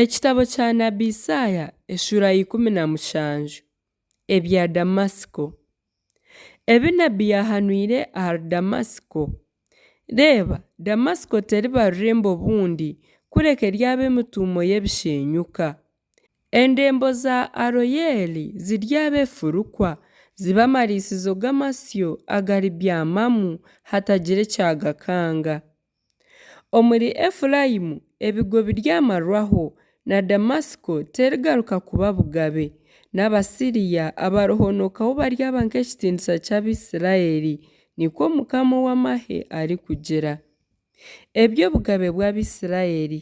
Ekitabo kya Nabi Isaaya eshuura ya ikumi na mushanju Ebya Damasiko Ebi Nabi yaahanwire ahari Damasiko Reeba, Damasiko teriba rurembo obundi kureka eryaba emituumo y'ebisheenyuka, endembo za Aroyeeli ziryaba efurukwa, zibe amariisizo g'amasyo agaribyamamu hatagira ekyagakanga. Omuri Efuraimu ebigo biryamarwaho, na Damasiko terigaruka kuba bugabe, n'Abasiria abarihonookaho baryaba nk'ekitiinisa ky'Abaisiraeli, nikwo Mukama ow'amahe arikugira. Eby'obugabe bw'Abaisiraeli.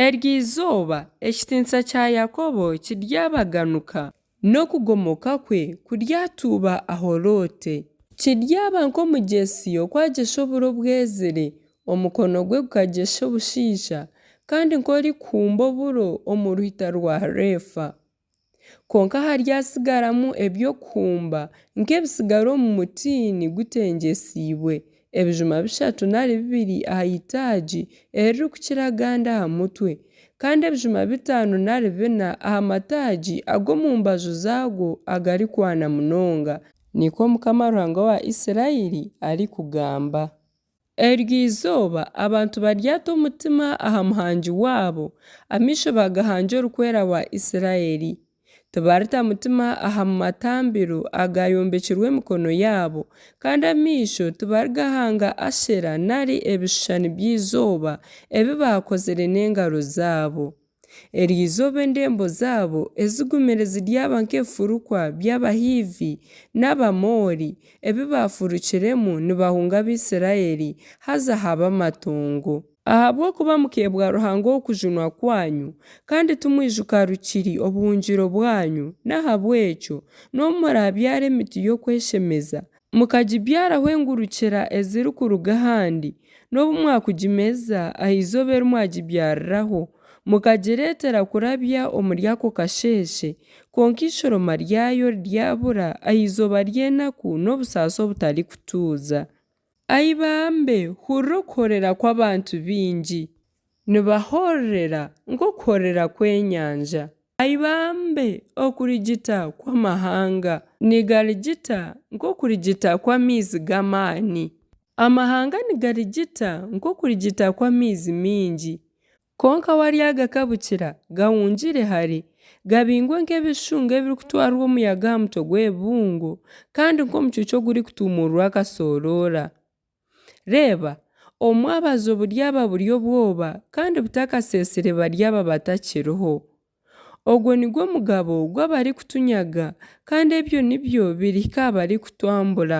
Eryo izooba ekitiinisa kya Yakobo kiryabaganuka, n'okugomoka kwe kuryatuuba aho loote. Kiryaba nk'omugyesi oku agyesha oburo obwezire, omukono gwe gukagyesha obushaija, kandi nk'orikuhumba oburo omu ruhita rwa Reefa. Kwonka haryasigaramu eby'okuhumba nk'ebisigara omu mutiini gutengyesiibwe, ebijuma bishatu nari bibiri aha itaagi eririkukira agandi aha mutwe, kandi ebijuma bitaano nari bina aha mataagi ag'omu mbaju zaagwo agarikwana munonga, nikwo Mukama Ruhanga wa Isiraeli arikugamba. Eryo izooba, abantu baryata omutima aha Muhangi waabo, amaisho bagahangye Orikwera wa Isiraeli. Tibarita mutima aha matambiro agaayombekirwe emikono yaabo, kandi amaisho tibarigahanga Ashera nari ebishushani by'eizooba ebi baakozire n'engaro zaabo. Eryo izooba endembo zaabo ezigumire ziryaba nk'ebifurukwa by'Abahiivi n'Abamoori ebi baafurukiremu nibahunga Abaisiraeli, haza haba amatongo. Ahabw'okuba mukeebwa Ruhanga ow'okujunwa kwanyu, kandi timwijuka rukiri obuhungiro bwanyu, n'ahabw'ekyo, n'obu muraabyara emiti y'okweshemeza, Mukagibyaraho engurukira ezirikuruga ahandi, n'obu mwakugimeza aha izooba eri mwagibyariraho, mukagireetera kurabya omuri ako kasheeshe, kwonka eishoroma ryayo ryabura aha izooba ry'enaku n'obusaasi obutarikutuuza. Ai bambe, hurira okuhorera kw'abantu baingi! Nibahorerera nk'okuhorera kw'enyanja. Aibambe okurigita kw'amahanga. Nigarigita nk'okurigita kw'amaizi g'amaani. Amahanga nigarigita nk'okurigita kw'amaizi maingi. Kwonka waryagakabukira, gahungire hare, gabingwe nk'ebishushunga ebirikutwarwa omuyaga aha mutwe gw'ebibungo, kandi nk'omucuucu ogurikutuumuururwa akasooroora. Reeba, omwabazi oburyaba buri obwoba kandi butakaseesire baryaba batakiriho. Ogwo nigwo mugabo gw'abarikutunyaga, kandi ebyo nibyo birihika aha barikutwambura.